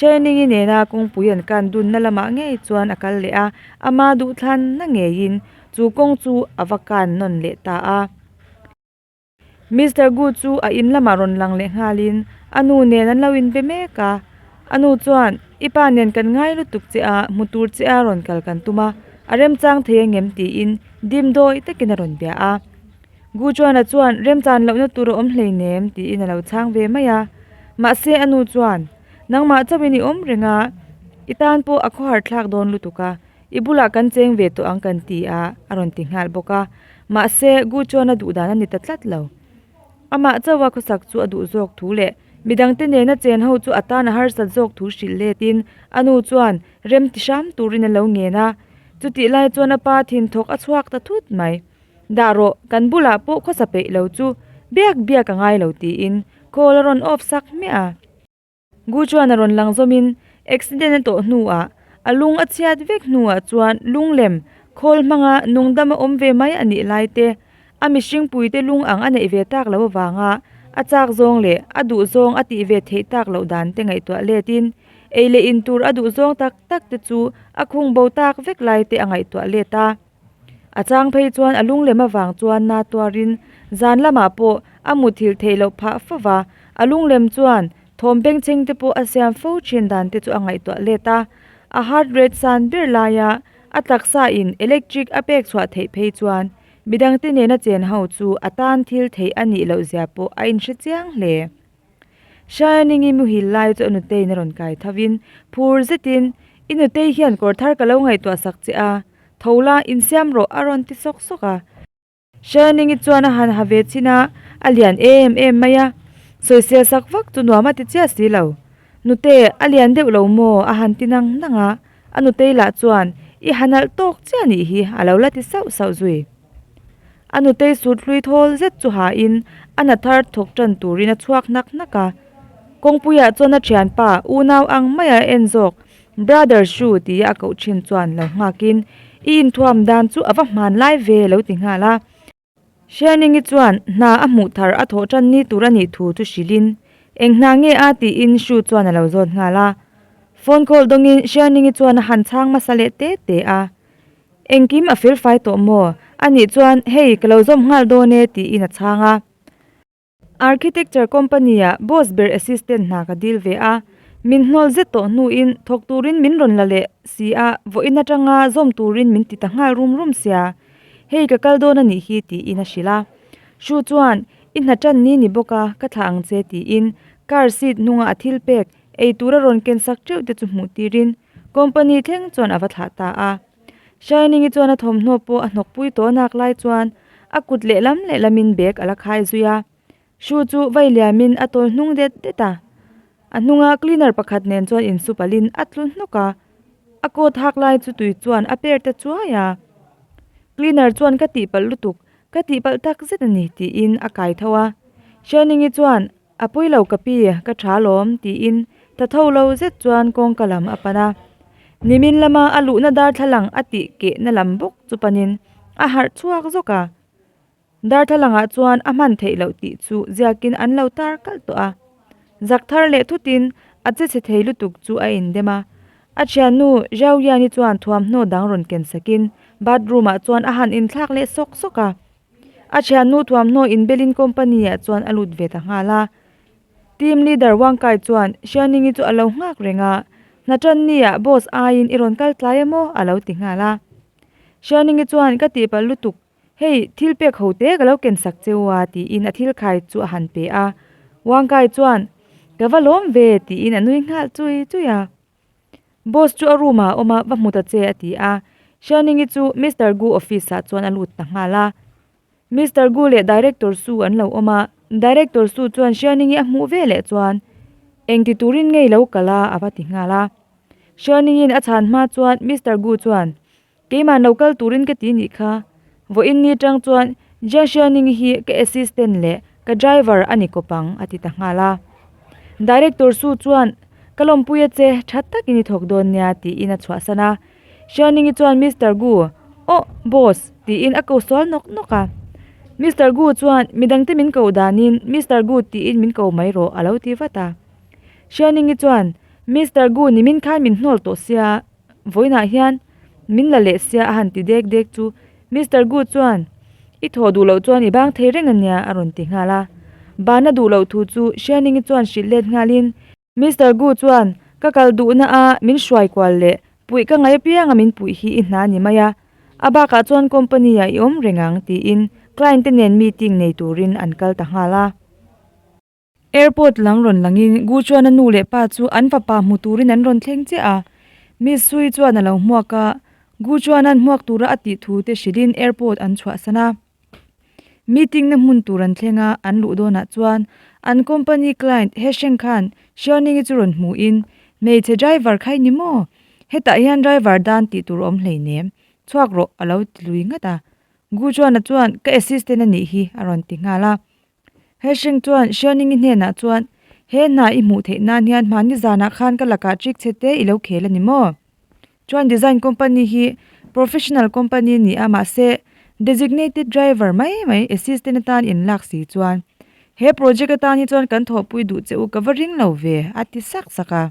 Chaining-i nena kawngpui an kan dunna lamah ngei chuan a kal leh a, ama duhthlanna ngeiin chu kawng chu a va kan nawn leh ta a. Mister Gu chu a in lamah rawn lang leh nghalin a nu nen an lo in be mek a. A nu chuan, I pa nen kan ngai lutuk che a, hmu tur che a rawn kal kan tum a, a remchang thei a ngem tiin dim dawi takin a rawn bia a. Gu Chuana chuan remchan lohna tur a awm hleinem tiin a lo chhang ve mai a. Mahse a nu chuan, Nangmah chauhin i awm reng a, i tan pawh a khawhar thlak dawn lutuk a, i bulah kan cheng ve tawh ang kan ti a a rawn ti nghal bawk a. Mahse Gu Chuana duhdan a ni ta tlat lo. Amah chaua khawsak chu a duh zawk thu leh midangte nena chen ho chu a tan a harsat zawk thu hrilh letin a nu chuan rem ti hram turin a lo ngen a. Chutih lai chuan a pa thinthawk a chhuak ta thut mai. Dah rawh, kan bulah pawh khawsa peih lo chu biak biak a ngai lo tiin call a rawn off sak hmiah a. Gu chuan a rawn lang zawmin accident a tawh hnuah a lung a chhiat vek hnuah chuan lunglem khawl hmanga nungdam a awm ve mai a nih lai te, a mihring puite lung ang a neih ve tak loh avanga a chak zawng leh a duh zawng a tih ve theih tak loh dan te ngaihtuah letin ei leh in tur a duh zawng tak tak te chu a khung bo tak vek lai te a ngaihtuah let a. A chang phei chuan a lung lem avang chuan na tuar in zan lamah pawh a mut thil theih loh phah fo va, a lung lem chuan thawm pengcheng te pawh a siam fo thin dan te chu a ngaihtuah let a. A heart rate san ber lai a, a taksa in electric a pek chhuah theih phei chuan midang te nena chen ho chu a tan thil theih a nih loh zia pawh a in hre chiang hle. Shining i muhil lai chu a nutein a rawn kai tho in phur zetin, I nutei hian kawr thar ka lo ngaihtuah sak che a, tho la in siam rawh a rawn ti sawk sawk a. Shining i chuan a han ha ve chin a, a lian em em mai a, sawisil sak vak chu nuam a ti chiah si lo. Nute, a lian deuh lo maw? a han ti nang nang a. A nu Teila chuan, I hanalh tawk chiah nih hi a lo la ti sauh sauh zui. A nu Tei sut hlui thawl zet chu hahin a na thar thawk tan turin a chhuak hnak hnak a. Kawngpuia chuan a thianpa unau ang mai a en zawk, Brother Hru ti a koh thin chuan lo nghak in, I inthuam dan chu a va hman lai ve lo ti nghal a. Hrianingi chuan hna a hmuh thar a thawh tan ni tur a nih thu chu hrilhin, Eng hna nge a? tiin Shu chuan a lo zawt nghal a. Phone call dawngin Hrianingi chuan a han chhang hmasa leh te te a. Engkim a felfai tawh maw? Anih chuan, Hei, ka lo zawm nghal dawn e, tiin a chhang a. Architecture company-a boss ber assistant hna ka dil ve a, min hnawl zet tawh hnuin thawk turin min rawn la leh si a, vawiin atanga zawm turin min ti ta nghal rum rum sia, hei ka kal dawn a nih hi tiin a hrilh a. Hru chuan, I hna tan ni ni bawk a, ka thlah ang che tiin car seat hnunga a thil pek, eitura rawn kensak teuh te chu hmuh tirin company thleng chuan a va thlah ta a. Shining-i chuan a thawmhnaw pawh a hnawk pui tawh nak lai chuan a kut lehlam lehlamin bag a la khai zui a. Shoe chu vai liamin a tawl hnung det det a. A hnunga cleaner pakhat nen chuan in su palhin a tlu hnawk a. A coat hak lai chu tui chuan a per ta chuai a. Cleaner chuan ka tihpalh lutuk, ka tihpalh tak zet a ni tiin a kai tho a. Shining-i chuan. A pui lo ka pi, ka tha lawm, tiin ta tho lo zet chuan kawngka lam a pan a. Nimin lama a luhna darthlalang a tih kehna lam bawk chu panin a harh chhuak zawk a. Darthlalangah chuan a hman theih loh tih chu ziakin an lo tar kalh tawh a. Zak thar leh thutin a che chhe thei lutuk chu a indem a. A thiannu Zhao Yanni chuan thuamhnaw dang rawn ken sakin bathroom-ah chuan a han inthlak leh sawk sawk a. A thian nu thuamhnaw in belin company ah chuan a lut ve ta nghal a. Team leader Wang Kai chuan Xiaoningi chu a lo nghak reng a, Hnaṭan nia boss aiin i rawn kal tlai em aw? a lo ti nghal a. Xiaoningi chuan ka tihpalh lutuk, hei thil pek ho te ka lo ken sak che u a tiin a thil khai chu a han pe a. Wang Kai chuan, Ka va lawm ve, tiin a nui nghal chui chui a. Boss chu a room ah a awm a va hmu ta che a ti a Shining i chu Mister Gu office ah chuan a lut ta nghal a Mister Gu leh Director Su an lo awm a Director Su chuan Shining i a hmuh ve leh chuan eng ti turin nge i lo kal a a va ti nghal a Shining in a chhan hma chuan Mister Gu chuan. Keimah no kal turin ka ti nih kha, vawiin ni atang chuan Jiashia Ning hi ka assistant leh ka driver a ni kawp ang, a ti ta nghal a. Director Su chuan, Ka lawmpui a che, tha takin i thawk dawn nia, tiin a chhuahsan a. Shia Ning-i chuan Mister Gu, Awh, boss, tiin a ko sual nawk nawk a. Mister Gu chuan midangte min koh danin Mister Gu tiin min ko mai rawh, a lo ti vat a. Shia Ning-i chuan, Mister Gu nimin khan min hnawl tawh sia, Vawiinah hian min la leh sia a han ti dek dek chu Mister Gu chuan I thaw duh loh chuan i bang thei reng a nia a rawn ti nghal a. Ban a duh loh thu chu Hrianingi chuan hrilh let nghal in Mister Gu chuan Ka kal duh na a min hruai kual le, puih ka ngai apiang a min puih hi i hna ni mai a, a bakah chuan company ah i awm reng ang tiin client te nen meeting nei turin an kal ta nghal a. Airport lam rawn langin Gu chuan a nu leh pa chu an fapa hmu turin an rawn thleng chiah a, Miss Sui chuan a lo hmuak a, Gu chuan an hmuak tura a tih thu te hrilhin airport an chhuahsan a. Meeting na hmun tur an thleng a, an luh dawnah chuan an company client he Sheng khan Xiaoningi chu rawn hmuhin, Hmeichhe driver khai ni maw? Hetah hian driver dan tih tur awm hleinem, chhuak rawh, a lo ti lui ngat a. Gu chuan a chuan ka assistant a nih hi a rawn ti nghal a, He hring chuan Hrianingi hnenah chuan, He hna i hmuh theih nan hian hmani zanah khan ka lakah chik che te i lo khel a ni maw? Chuan design company hi professional company a ni a, mahse designated driver mai mai, assistant atan in lak si chuan he project atan hi chuan kan thawhpui duh che u ka va ring lo ve, a ti sak sak a.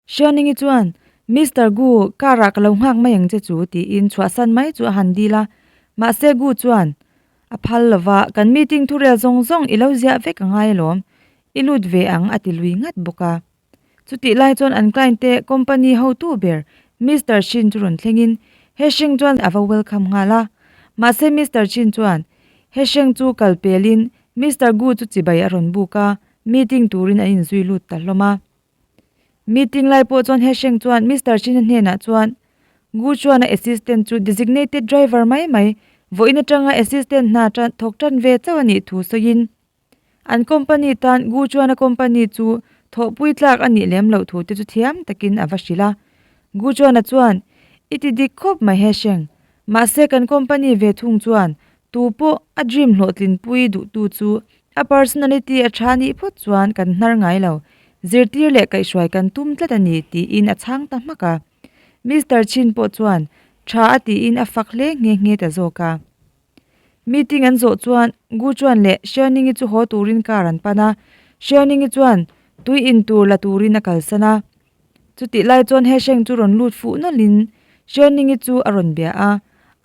Hrianingi chuan, Mister Gu, car ah ka lo nghak mai ang che chu, tiin chhuah san mai chu a han dil a. Mahse Gu chuan a phal lo va, Kan meeting thurel zawng zawng i lo ziah vek a ngai alawm, i lut ve ang, a ti lui ngat bawk a. Chutih lai chuan an client te company hotu ber Mister Chin chu rawn thlengin he hreng chuan a va welcome nghal a. Mahse Mister Chin chuan he hreng chu kal pelin Mister Gu chu chibai a rawn buk a, meeting turin an inzui lut ta hlawm a. Meeting lai pawh chuan Hesheng chuan Mister China hnenah chuan, Gu chuan a assistant chu designated driver mai mai, vawiin atanga assistant hna tan thawk tan ve chauh a nih thu sawiin, an company tan Gu chuan a company chu thawhpui tlak a nih lem loh thu te chu thiam takin a va hrilh a. Gu chuanah chuan, I ti dik khawp mai Hesheng, mahse kan company ve chung chuan, tu pawh a dream hlawhtlin pui duhtu chu A personality a tha nih phawt chuan kan hnar ngai lo, zirtir leh kaihhruai kan tum tlat a ni, tiin a chhang ta hmak a. Mister Chin pawh chuan tha a tiin a fak hle nghe nghe ta zawk a. Meeting an zawh chuan Gu Chuan leh Hrianingi chu haw turin car an pan a, Hrianingi chuan tui in tur la turin a kalsan a. Chutih lai chuan he hreng chu rawn lut fuh nawlhin Hrianingi chu a rawn bia a,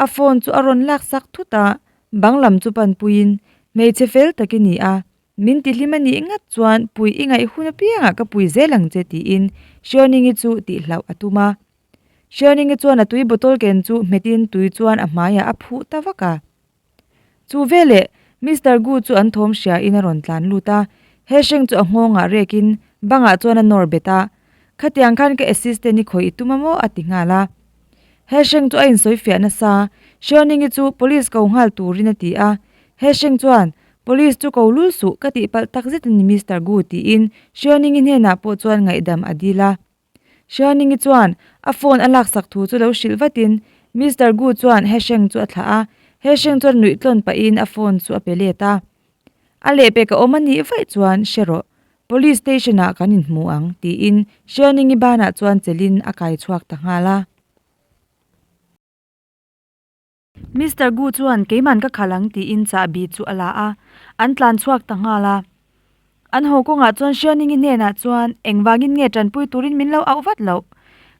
a phone chu a rawn lak sak thut a, Bang lam chu pan puiin, Hmeichhe fel tak i ni a, min tihlim a nih ngat chuan pui i ngaih hun apiangah ka pui zel ang che tiin Hriawningii chu tih hlauh a tum a. Hriawningii chuan a tui bottle ken chu hmetin tui chuan a hmaiah a phuh ta vak a. Chu veleh Mister Gu chu an thawm hriain a rawn tlan lut a, he hreng chu a nghawngah rekin bangah chuan a nawr bet a. Khatiang khan ka assistant i khawih i tum a maw a ti nghal a. He Hreng chu a insawifiah nasa a, Hriawningyi chu police ko nghal turin a ti a. He Hreng chuan, Police chu ko lul suh, ka tih palh tak zet a ni Mister Gu tiin Hriawningyi hnenah pawh chuan ngaihdam a dil a. Hriawningyi chuan a phone a laksak thu chu lo hrilh vatin Mister Gu chuan He Hreng chu a thlah a. He Hreng chuan nuih tlawn pahin a phone chu a pe let a. A leh pek a awm a nih vaih chuan hre rawh, police station ah kan inhmu ang, tiin Hrianingi bana chuan chelhin a kai chhuak ta nghal a. Mister Gu chuan keiman ka khalh ang tiin chahbi chu a la a, an tlan chhuak ta nghal a. An haw kawngah chuan Hrianingi hnenah chuan, Engvangin nge tanpui turin min lo auh vat loh?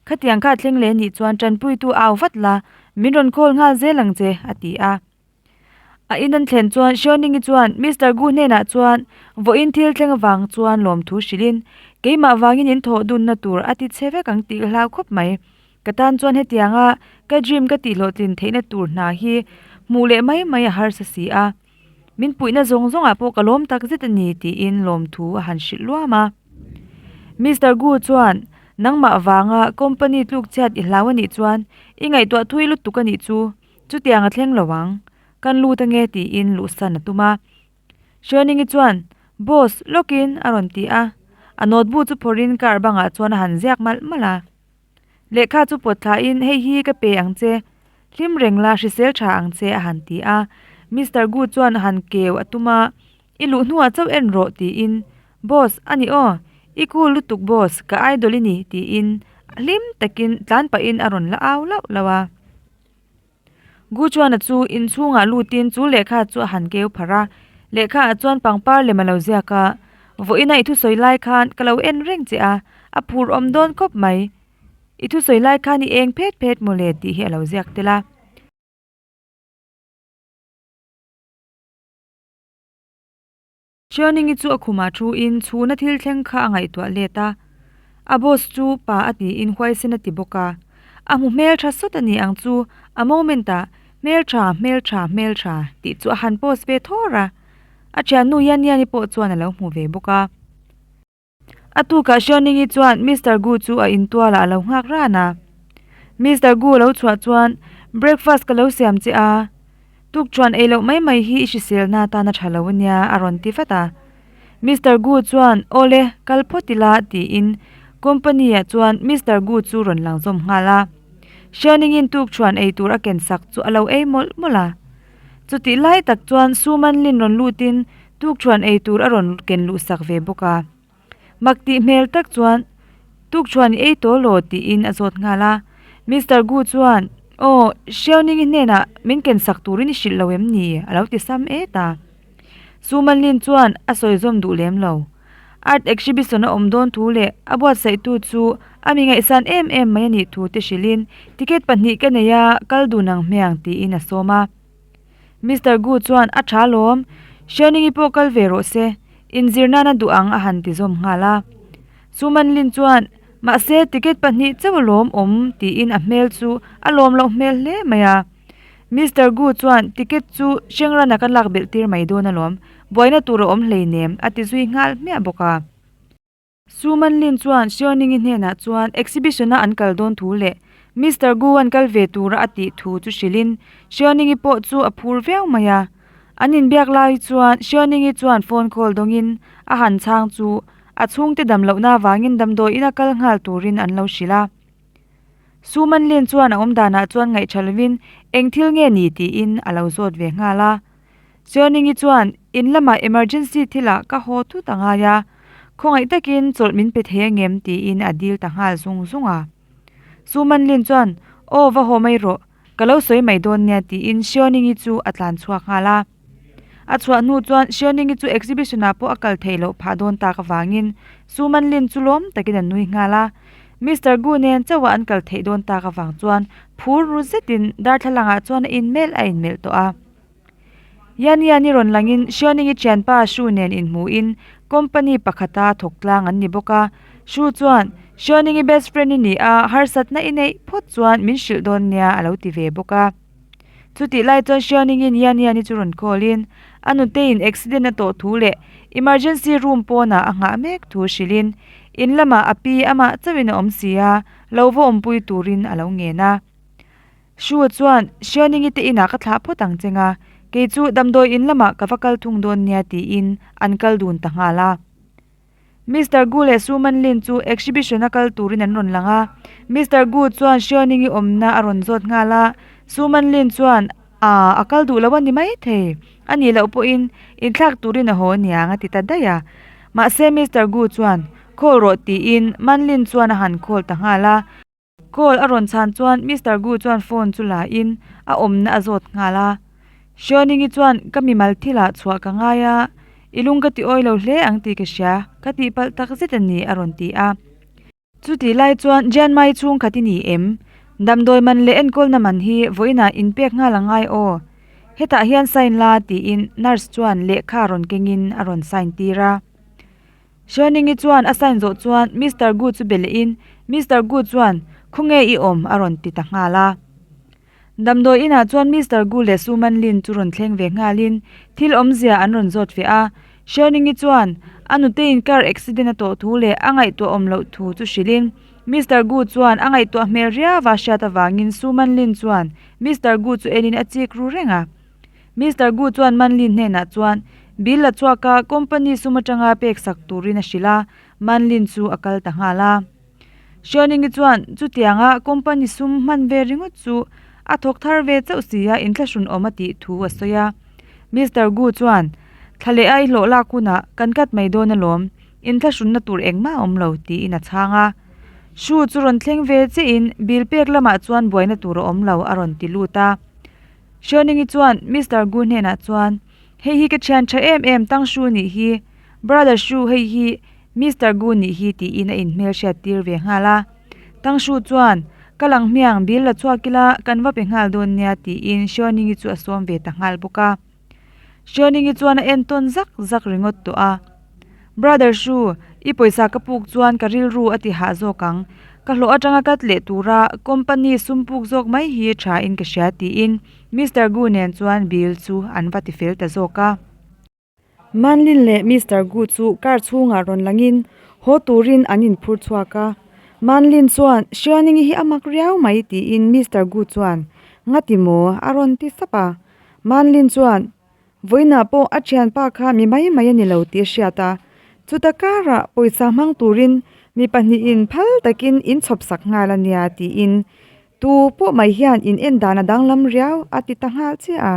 Khatiang kha a thleng leh nih chuan tanpuitu a auh vat la, min rawn call nghal zel ang che, a ti a. A in an thlen chuan Hriauningii chuan Mister Gu hnenah chuan vawiin thil thleng avang chuan lawmthu hrilhin, Keimah vangin in thawh dunna tur a ti che vek ang tih ka hlau khawp mai. Ka tan chuan hetianga ka dream ka tihhlawhtlin theihna tur hna hi hmuh leh mai mai a harsa si a, min puihna zawng zawngah pawh ka lawm tak zet a ni tiin lawmthu a han hrilh luam a. Mister Gu chuan Nangmah vanga company tluk chhiat i hlau anih chuan i ngaihtuah thui lutuk anih chu. Chutiang a thleng lo ang, kan lut ange tiin luhsan a tum a. Hrianingi chuan, Boss, lawkin a rawn ti a. A notebook chu phawrhin car bangah chuan a han ziak malh malh a. Lehkha chu pawt thlahin, hei hi ka pe ang che, hlim reng la, hrisel tha ang che, a han ti a. Mister Gu chuan a han keu a tum a, I luh hnuah chauh en rawh tiin, Boss, a ni aw, i cool lutuk boss, ka idol i ni tiin hlim takin tlan pahin a rawn la au lauh lauh a. Gu Chuana chu inchhungah lutin chu lehkha chu a han keu pharh a, lehkha ah chuan pangpar lem a lo ziak a, vawiina i thusawi lai khan ka lo en reng che a, a phur awm dawn khawp mai, i thusawi lai khan i eng phet phet maw le tih hi a lo ziak tel a. Chuaningi chu a khumah thu in chhuna thil thleng kha a ngaihtuah let a, a boss chu pa a tiin huaisen a ti bawk a, a hmu hmeltha sawt a nih ang chu a moment ah hmeltha hmeltha hmeltha tih chu a han pause ve thawr a, a thian nu Yaniani pawh chuan a lo hmu ve bawk a. A tukah Hriauningyi chuan Mister Gu chu a intualah a lo nghak ran a. Mister Gu lo chhuah chuan, Breakfast ka lo siam che a, tukṭhuan ei loh mai mai hi i hriselna atan a ṭha lo a nia, a rawn ti vat a. Mister Gu chuan, Awle, kal phawt ila, tiin Company-a chuan Mister Gu chu rawn lang zawm nghal a. Hriauningyin tukṭhuan ei tur a ken sak chu a lo ei mawlh mawlh a. Chutihlai tak chuan Su Manlin rawn lutin Tukṭhuan ei tur a rawn ken luh sak ve bawk a. Mak tih hmel tak chuan Tukṭhuan i ei tawh law tiin a zawt nghal a. Mister Gu chuan, Aw, Hriauning-i hnenah min ken sak turin i hrilh lo em ni? a lo ti sam e ta. Su Man Lin chuan a sawi zawm duh lem lo. Art exhibition a awm dawn thu leh a buatsaihtu chu a mi ngaihsan em em mai a nih thu te hrilhin, Ticket pahnih ka nei a, kal dun ang hme ang tiin a sawm a. Mister Gu chuan a tha lawm, Hriauningyi pawh kal ve rawh se, inzir nan a duh ang a han ti zawm nghal a. Chu Manlin chuan, Mahse, ticket pahnih chauh alawm awm, tiin a hmel chu a lawm loh hmel hle mai a. Mister Gu chuan, Ticket chu Shengran-a ka lakbelh tir mai dawn alawm, buaina tur a awm hleinem, a ti zui nghal hmiah bawk a. Su Man Lin chuan Seo Ning-i hnenah chuan exhibition-a an kal dawn thu leh Mister Gu-an kal ve tura a tih thu chu hrilhin Seo Ning-i pawh chu a phur viau mai a. An inbiak lai chuan Seo Ning-i chuan phone call dawngin a han chhang chu a chhungte dam lohna avangin damdawiin-a kal nghal turin an lo hrilh a. Su Man Lin chuan a awm danah chuan ngaihṭha lovin engthil nge ni tiin a lo zawt ve nghal a. Chuaningi chuan in lamah emergency thila ka haw thut a ngai a, khawngaih takin chawlh min pe thei angem tiin a dil ta nghal zung zung a. Su Manlin chuan aw va haw mai rawh, ka lo sawi mai dawn nia tiin Sioningi chu a tlan chhuak nghal a. A chhuah hnu chuan Sioningi chu exhibition ah pawh a kal thei loh phah dawn tak avangin Su Manlin chu lawm takin a nui nghal a. Mister Gu nen chauh a an kal thei dawn tak avang chuan phur ru zetin darthlalang ah chuan a inmelh a inmelh tawh a. Yan hian i rawn langin Hrianing i thianpa Hru nen inhmuhin company pakhata thawk tlang an ni bawk a. Hru chuan, Hrianing i best friend i ni a, harsatna i neih phawt chuan min hrilh dawn nia, a lo ti ve bawk a. Chutih lai chuan Hrianing in Yan hian i chu rawn callin a nute in accident a tawh thu leh emergency room pawnah a nghah mek thu hrilhin in lamah a pi amah chauhin a awm si a, lohva awmpui turin a lo ngen a. Shua chuan, Hrianingi te inah ka thlah phawt ang che nga, kei chu damdawi in lamah ka va kal thung dawn nia tiin an kal dun ta nghal a. Mister Gu leh Su Man Lin chu exhibition a kal turin an rawn lang a, Mister Gu chuan Hrianingi awmna a rawn zawt nghal a, Su Man Lin chuan, Aah, a kal duh loh a ni maithei, a nih loh pawhin inthlak turin a haw a nia ang a ti ta daih a. Mahse Mister Gu chuan, Call rawh tiin Man Lin chuan a han call ta nghal a. Call a rawn chhan chuan Mister Gu chuan phone chu la in a awmna a zawt nghal a. Hriawningyi chuan ka mimal thilah chhuah ka ngai a, i lung ka ti awi lo hle ang tih ka hria, ka tih palh tak zet a ni a rawn ti a. Chutih lai chuan Jianmaiyi chhungkhat i ni em? Damdawi man leh enkawlna man hi vawiinah in pek nghal a ngai aw. Hetah hian sign la tiin nurse chuan lehkha rawn kengin a rawn sign tir a. Hrianingi chuan a sign zawh chuan Mister Gu chu be lehin Mister Gu chuan Khawngge i awm? a rawn ti ta nghal a. Damdawi inah chuan Mister Gu leh Su Man Lin chu rawn thleng ve nghalin thil awmzia an rawn zawt fiah a. Hrianingi chuan a nuteiin car accident a tawh thu leh a ngaihtuah awm loh thu chu hrilhin Mister Gu chuan a ngaihtuah hmel riau a hriat avangin Su Man Lin chuan Mister Gu chu elin a chik ru reng a. Mister Gu chuan Man Lin hnenah chuan bil a chhuak a, company sum atanga pek sak turin a hrilh a, Man Lin chu a kal ta nghal a. Hria Ning-i chuan chutianga company sum hman ve ringawt chu a thawk thar ve chauh si a, in thlahrun awm a tih thu a sawi a. Mister Gu chuan Thla leha i hlawh lak hunah kan cut mai dawn alawm, in thlahrunna tur engmah a awm lo tiin a chhang a. Hru chu rawn thleng ve che in bil pek lamah chuan buaina tur a awm lo a rawn ti lut a. Hrianingi chuan Mister Gu hnenah chuan, Hei hi ka thian tha em em, Tang Hru nih hi, Brother Hru hei hi Mister Gu nih hi tiin a inhmelhriat tir ve nghal a. Tang Hru chuan, Ka lang hmiang, bil la chhuak ila kan va pe nghal dawn nia, tiin Hrianingi chu a sawm ve ta nghal bawk a. Xiaoningi chuan a en tawn zak zak ringawt tawh a, Brother Hru, i pawisa ka puk chuan ka rilru a ti hah zawk ang. Ka hlawh atanga cut leh tura company sum puk zawk mai hi tha in ka hria tiin Mister Gu nen chuan bill chu an va ti fel ta zawk a. Man Lin leh Mister Gu chu car chhungah rawn langin haw turin an in phur chhuak a, Man Lin chuan Xiaoningi hi a mak riau mai tiin Mister Gu chuan, Ngati maw? a rawn ti sap a. Manlin chuan vawiinah pawh a thianpa kha mi mai mai a ni lo tih a hriat a, chuta karah pawisa hmang turin mi pahnihin phal takin in chhawp sak nghal a nia tiin tu pawh mai hian in en dan a danglam riau a ti ta nghal chiah a.